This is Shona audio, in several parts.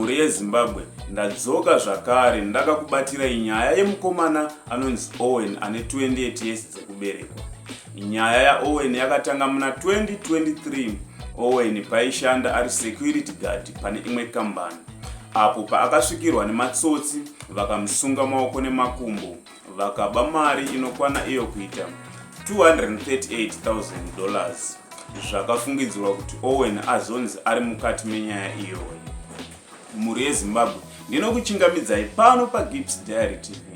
Mhuri yeZimbabwe ndadzoka zvakare ndakakubatirai nyaya yemukomana anonzi Owen ane 28 years dzekuberekwa. Nyaya yaOwen yakatanga muna 2023 Owen paishanda ari security guard pane imwe kambani apo paakasvikirwa nematsotsi vakamusunga maoko nemakumbo vakaba mari inokwana iyo kuita 238,000 dollars zvakafungidzirwa kuti owen azonzi ari mukati menyaya iyoyo mhuri yezimbabwe ndinokuchingamidzai pano pagips diary tv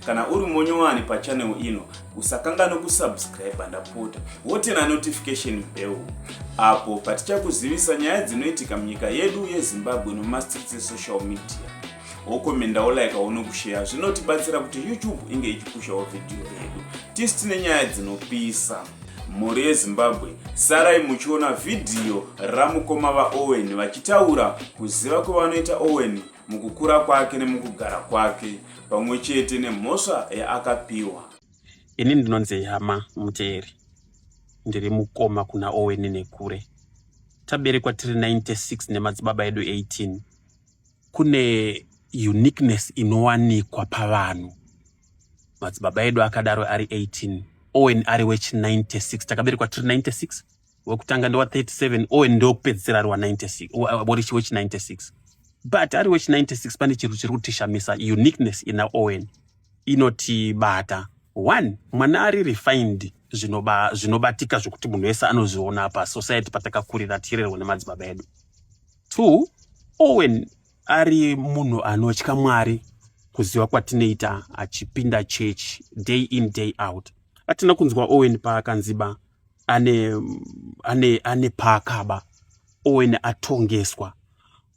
kana uri monyowani pachanel ino usakangano kusubscribe ndapota wotena notification bell apo patichakuzivisa nyaya dzinoitika munyika yedu yezimbabwe nomastreets esocial media wokomendawo like aone kusheya zvinotibatsira kuti youtube inge ichipushawo vhidhiyo redu tisi tine nyaya dzinopisa mhuri yezimbabwe sarai muchiona vhidhiyo ramukoma vaowen vachitaura kuziva kwevanoita owen mukukura kwake nemukugara kwake pamwe chete nemhosva yaakapiwa ini ndinonzi hama muteeri ndiri mukoma kuna owen nekure taberekwa tiri 96 nemadzibaba edu 18 kune uniqueness inowanikwa pavanhu madzibaba edu akadaro ari 18 owen ari wechi 96 takaberekwa tiri 96 wekutanga ndewa 37 owen ndokupedzisira ari wa 96 worichi wechi 96 but ari wechi 96 pane chiro chiri kutishamisa uniqueness ina owen inotibata one mwana ari refined zvinobatika zvinoba zvekuti munhu wese anozviona pa society patakakurira tirerwa nemadzibaba edu Two, Owen ari munhu anotya Mwari kuziva kwatinoita achipinda church day in day out. Atina kunzwa Owen paakanziba ane, ane, ane paakaba Owen atongeswa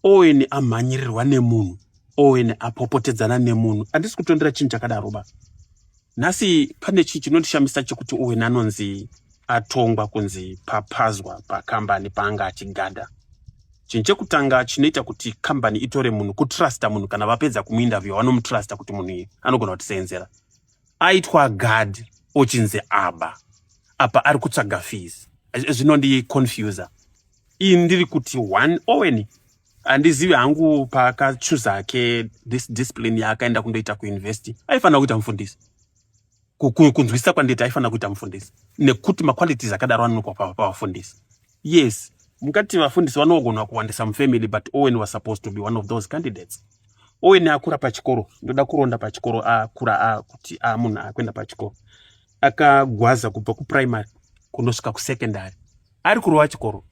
Owen amhanyirirwa nemunhu Owen apopotedzana nemunhu. Handisi kutondera chinhu chakadaro ba. Nhasi pane chinhu chinondishamisa chekuti Owen anonzi atongwa kunzi papazwa pakambani paanga achigada chinhu chekutanga chinoita kuti kambani itore munhu kutrusta munhu kana vapedza kumuinterview vanomutrusta kuti munhu iyi anogona kutiseenzera aitwa gad ochinzi aba apa ari kutsvaga fees zvinondiconfusa ii ndiri kuti one owen handizivi hangu paakachuza ke this discipline yaakaenda kundoita kuuniversity aifanira kuita mufundisi kunzwisisa kwanditi aifanira kuita mufundisi nekuti maqualities akadaro anonoka pavafundisi yes mukati vafundisi vanogona kuwandisa mufamily but owen was supposed to be one of those candidates owen akura pachikoro ndoda kuronda pachikoro akura akuti amunhu akuenda pachikoro akagwaza kubva kuprimary kunosvika kusecondary ari kurova chikoro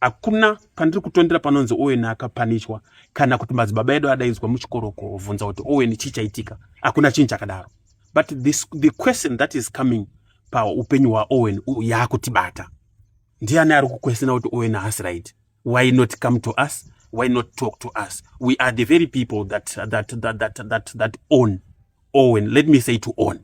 hakuna pandiri kutondera panonzi owen akapanishwa kana kuti madzibaba edu adaidzwa muchikoro kuvhunza kuti owen chii chaitika hakuna chinhu chakadaro but this, the question that is coming paupenyu hwaowen yaakutibata ndiani ari kukwesena kuti owen haasi right why not come to us why not talk to us we are the very people that, that, that, that, that, that own owen let me say to own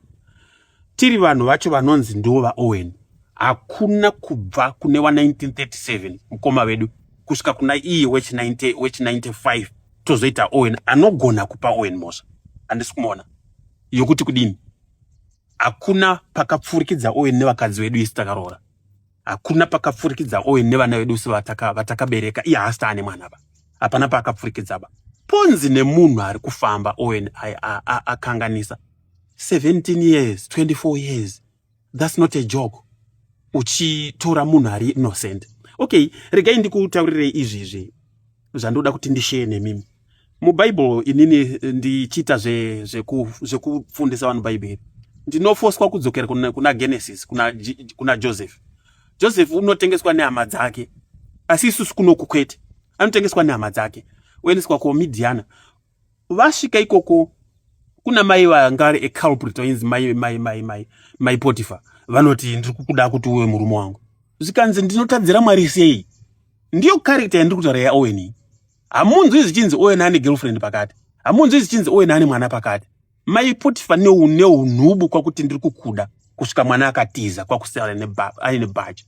tiri vanhu vacho vanonzi ndivo vaowen hakuna kubva kune wa 1937 mukoma vedu kusvika kuna iye wechi 95 tozoita owen anogona kupa owen mhosva handisi kumuona yokuti kudini hakuna pakapfurikidza owen nevakadzi vedu isi takaroora hakuna pakapfurikidza owen nevana vedu si vatakabereka iye haasi taane mwana ba hapana paakapfurikidza ba ponzi nemunhu ari kufamba owen akanganisa 17 years 24 years that's not a joke uchitora munhu ari innocent okay regai ndikutaurirei izvizvi zvandoda kuti ndisheye nemimi mubhaibheri inini eh, ndichiita zvekufundisa vanhu bhaibheri ndinofoswa kudzokera kuna genesis kuna joseph joseph unotengeswa nehama dzake asi isusu kunoku kwete anotengeswa nehama dzake oendeswa kuomidiana vasvika ikoko kuna mai vangari eculprit vainzi mai mai mai mai mai potifa vanoti ndiri kukuda kuti uwe murume wangu zvikanzi ndinotadzira mwari sei ndiyo karekta yandiri kutaura yaowen hamunzwi zvichinzi owen ane girlfriend pakati hamunzwi zvichinzi owen ane mwana pakati Mai Potifa neunhubu kwakuti ndiri kukuda kusvika mwana akatiza kwakusara aine bhachi.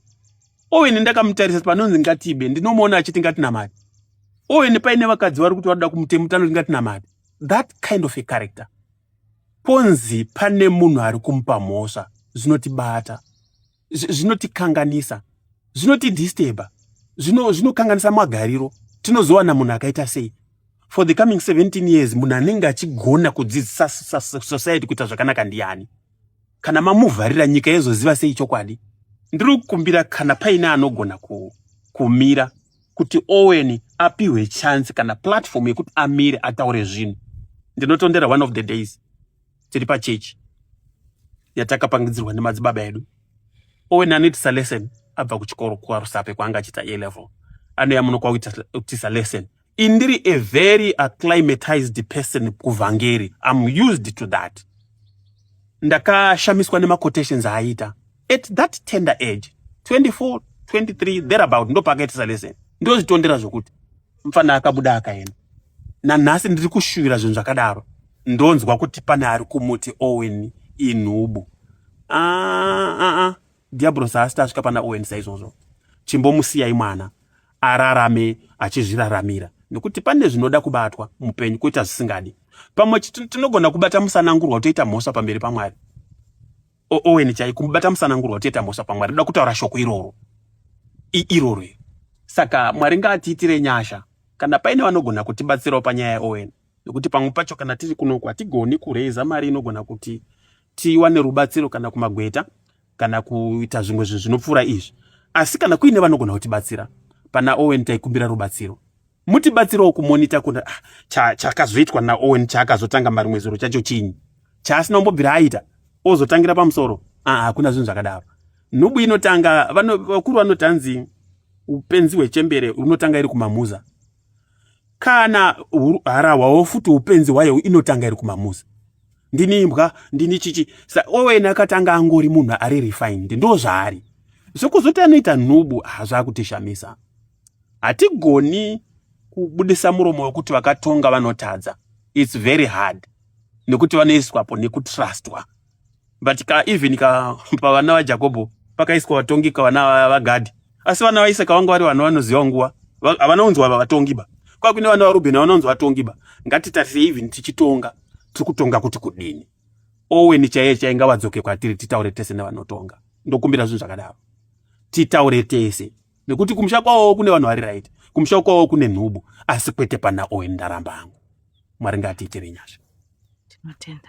Owen ndakamutarisa panonzi ngatibe ndinomuona achiti ngatinamati. Owen paine vakadzi vari kuti vanoda kumutemu tanoti ngatinamati. That kind of a character. Ponzi pane munhu ari kumupa mhosva zvinotibata. zvinotikanganisa zvinotidisturba zvinokanganisa zvino magariro tinozowana munhu akaita sei for the coming 17 years munhu anenge achigona kudzidzisa society kuita zvakanaka ndiani kana mamuvharira nyika yezoziva sei chokwadi ndiri kukumbira kana paine anogona ku, kumira kuti owen apiwe chance kana platform yekuti amire ataure zvinhu ndinotondera one of the days tiri pachechi yatakapangidzirwa nemadzibaba edu owen anoitisa lesson abva kuchikoro kwarusape kwaanga achiita a level anoya muno kwakuitisa lesson indiri a very acclimatized person kuvhangeri am used to that ndakashamiswa nemaquotations aaita at that tender age 24 23 thereabout ndopakaitisa lesson ndozvitondera zvokuti mfana akabuda akaenda nanhasi ndiri kushuvira zvinhu zvakadaro ndonzwa kuti pane ari kumuti owen inhubu ah, ah, ah. diabros haasita asvika pana owen saizvozvo chimbomusiyai mwana ararame achizviraramira nekuti pane zvinoda kubatwa mupenyu kuita zvisingadi pamwe tinogona kubata musanangurwa toita mhosva pamberi pamwari Owen chai kumubata musanangurwa kutiita mhosva pamwari ndoda kutaura shoko iroro iroro saka mwari ngaatiitire nyasha kana paine vanogona kutibatsirawo panyaya yaowen nekuti pamwe pacho kana tiri kunoku hatigoni kureiza mari inogona kuti tiwane rubatsiro kana kumagweta kana kuita zvimwe zvinhu zvinopfuura izvi asi kana kuine vanogona kutibatsira pana owen taikumbira rubatsiro mutibatsirewo kumonita kuna ah, chakazoitwa naowen chaakazotanga marimwe zuro chacho chinyi chaasina umbobvira aita ozotangira pamusoro ah, hakuna zvinhu zvakadaro nhubu inotanga vakuru vanoti hanzi upenzi hwechembere unotanga iri kumamuza kana harahwawo futi upenzi hwayo inotanga iri kumamuza ndini imbwa ndini chichi sa owen akatanga angori munhu ari refined ndo zvaari zvekuzoti anoita nhubu hazvakutishamisa ah, hatigoni kubudisa muromo wekuti vakatonga vanotadza its very hard nekuti vanoiswapo nekutrustwa but ka even ka pavana vajakobho pakaiswa vatongi kavana vagadhi asi vana vaisaka vanga vari vana vanoziva nguva havanaunzwa vatongi ba kwakune vana varubheni vanaunzwa vatongi ba ngatitarise even tichitonga tiri kutonga kuti kudini oweni chaiye chainga vadzoke kwatiri titaure tese nevanotonga ndokumbira zvinhu zvakadaro titaure tese nekuti kumusha kwawo kune vanhu vari right kumusha kwawo kune nhubu asi kwete pana owen ndaramba hangu mwari ngaatiitire nyasha tinotenda